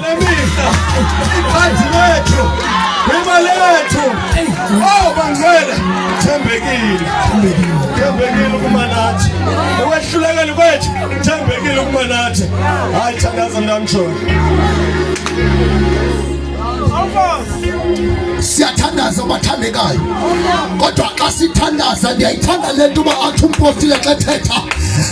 Lemisa ikhadi lethu lima lethu oh bangcwele thembekile thembekile ukuba nathi ekwehlulekeni kwethu thembekile ukuba nathi hayi thandaza mntamtshona siyathandaza abathandekayo kodwa xa sithandaza ndiyayithanda le nto uba athi umpostile xa ethetha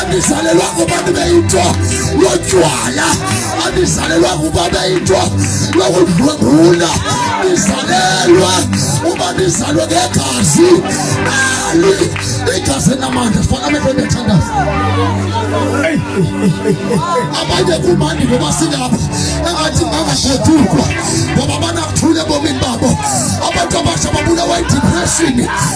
andizalelwa kuba ndibe yinto lotywala andizalelwa kuba ndibe yinto lokudlwengula ndizalelwa uba ndizalwe ngegazi ali igazi namandla fana amehlo ndiyathandaza abanye kumandi ngoba singapha engathi ngangashedukwa ngoba banakuthula ebomini babo abantu abasha babulawa yidipreshini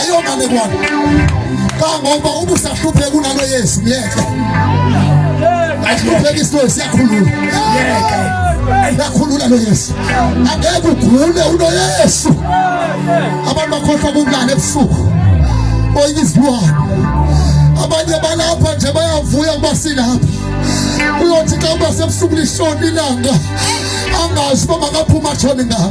ayomane bwana kangoba uba usahlupheka unalo yesu myeke ahlupheka isilo siyakhulula yakhulula loyesu angeke ugule unoyesu abantu bakhohlwa kunjani ebusuku oyike izilwane abanye balapha nje bayavuya ukuba silapha uyothi xa uba sebusuku lishona ilanga angazi uba makaphuma atshone ngapha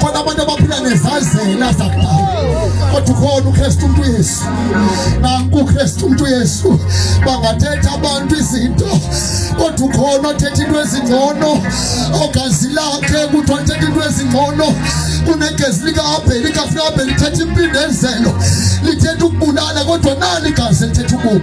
kodwa abantu abaphila nezazela zakudala kodwa ukhona ukristu umntu yesu nanku ukristu umntu yesu bangathetha abantu izinto kodwa ukhona othetha into ezingcono ogazi lakhe kuthi wathetha into ezingcono kunegezi likaabheli kafuna abheli lithetha impindezelo lithetha ukubulala kodwa nali gazi elithetha ubomi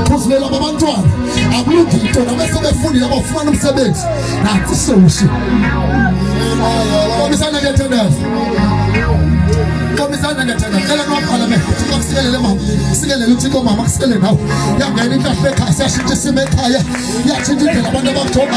ukhuzulelwa babantwana akulungi into nabese befundile bafumana umsebenzi nathi sewushi komisana ngethandaza komisana ngethandaza cela nowabhala me uthixo kusikelele mama sikelele uthixo mama kusikelele nawe yangena intlahla ekhaya siyashintsha isimo ekhaya yatshintsha indlela abantu abajonga